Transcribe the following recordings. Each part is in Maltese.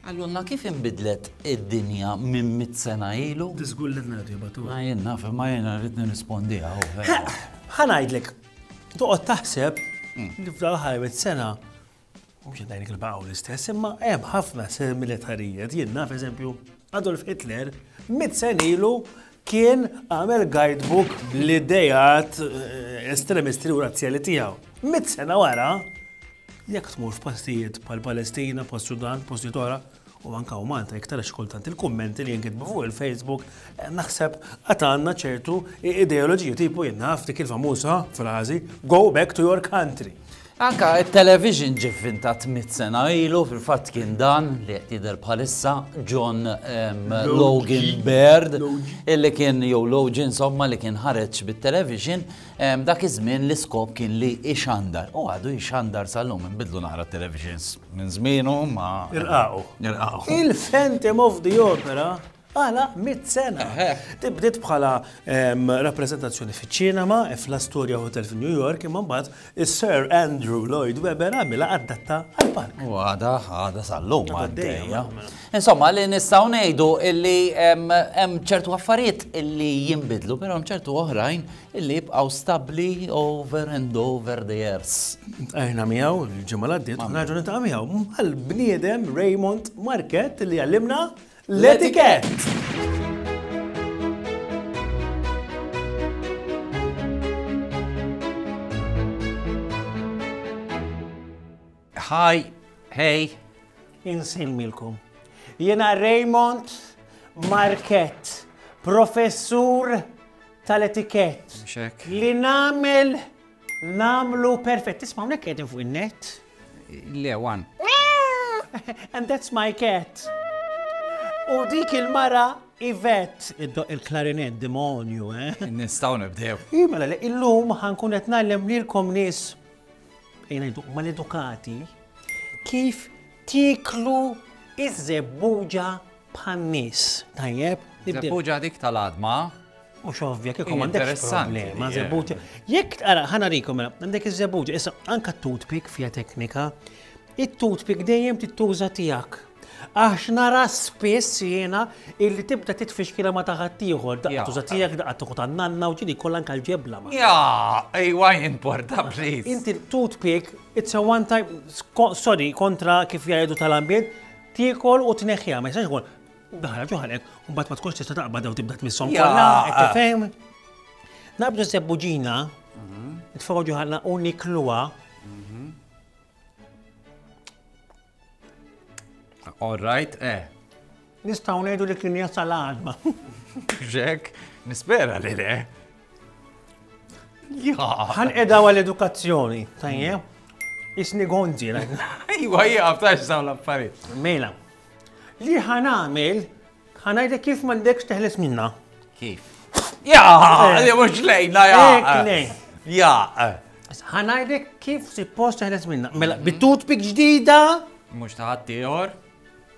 Qalulna kif inbidlet id-dinja minn mitt sena ilu? Tiżgullilna int, Jabatur. Ma jien naf, imma jiena rrid nirrispondiha hawn, vera. Ħa ngħidlek, toqgħod taħseb li f'dawn l-aħħar mitt sena, mhux qed ngħidlek il-baqgħu l-istess, imma hemm ħafna similitarijiet. Jien naf, eżempju, Adolf Hitler mitt sena ilu kien għamel guidebook bl-idejat eh, estremisti u razzjali tiegħu. Mit sena wara, jekk tmur f'pastijiet pal Palestina, post Sudan, post Jitora, u anka u Malta iktar xkultant il-kummenti li jinkitbu fuq il-Facebook, eh, naħseb għatanna ċertu ideoloġija tipu jinnaf dik il-famusa frażi, go back to your country. Anke t-television ġie vvintat mitt sena ilu, fil-fatt kien dan li qed jidher bħalissa, John Logan Baird, illi kien jew Logie insomma li kien ħareġ bit-television, dak iż-żmien l-iskop kien li jxandar. U għadu jxandar sal-lum, inbidlu naqra t-televisions minn żmienu ma. Irqaqu. Irqaqu. Il-Phantom of the Opera Għala mitt sena? Din bdiet bħala rappreżentazzjoni fiċ-ċinema fl-Astoria Hotel f'New York imma mbagħad is-Sir Andrew Lloyd Webber għamilha adatta għall-park. U għada għada sal-lum għaddejja. Insomma, li nistgħu ngħidu illi hemm ċertu affarijiet illi jinbidlu, però hemm ċertu oħrajn illi jibqgħu stabbli over and over the years. Ejna miegħu l-ġimgħa l-għaddiet, raġuni ta' miegħu għall-bniedem Raymond Market li għallimna L-etikett! Hi, hey, insemmilkom. Jena Raymond Market, professur tal-etikett. Li namel Namlu perfett. Tisma' hawnhekk qegħdin fuq in-net? Le, wan. And that's my cat. U dik il-mara Ivet, id-doq il-klarinet, demonju, eh? Nistaw nibdew. Imela, mela, illum ħankun qed nagħlem lilkom nies mal-edukati kif tiklu iż-żebbuġa bħal nies, tajjeb? Zebbuġa dik tal-adma. Mhux ovvja kieku m'għandekx problema, zebbuġa. Jekk ara ħana rikom mela, għandek iż-zebbuġa, issa anka toothpick fija teknika, it-toothpick dejjem tittuża tiegħek. Għax nara spiss jiena illi tibda titfixkila ma taħat ieħor, daqqa tuża tiegħek, daqqa tuħu tan-nanna u ġini kollha anke l-ġebla. Ja, ejwa importa please. Inti toothpick, it's a one time, sorry, kontra kif jgħidu tal-ambjent, Tiekol u tneħħiha ma jistax ikun daħla ġoħalek u mbagħad ma tkunx tista' taqbad u tibda tmisshom kollha, qed tifhem? Naqbdu sebbu ġina, mhm. tfogħu ġoħalna u nikluha. Mhm. All right, eh. Nistgħu ngħidu li kien jasal għadma. Ġek, nispera li le. Għan edha għal edukazzjoni, tajje? Isni gonzi, la. Iwa, jgħab, għabtax dawn l-affarijiet. Mela, li ħan għamil, ħan għajda kif mandekx teħles minna. Kif? Ja, eh. li mux lejna, ja. Ja. Ħan għajda kif si post teħles minna. Mela, bitut pik ġdida. Mux taħat tiħor.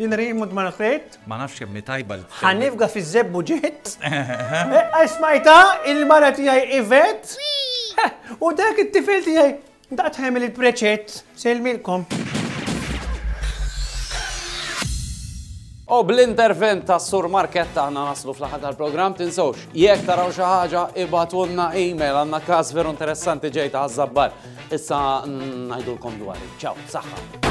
Jinri mud ma nħejt. Ma nafx kemm tajba l Ħanifga fi zebbu ġiet. Għasmajta eh, il-mara tiegħi ivet. U dak it-tifel tiegħi daqt ħemil il-preċett sejlmilkom. U bl-intervent ta' Sur Marketta ħna naslu fl-ħad tal-program tinsawx. Jek taraw xi ħaġa ibatunna email għandna każ veru interessanti ġejta għaż-żabbar. Issa ngħidulkom dwar. Ċaw, saħħa.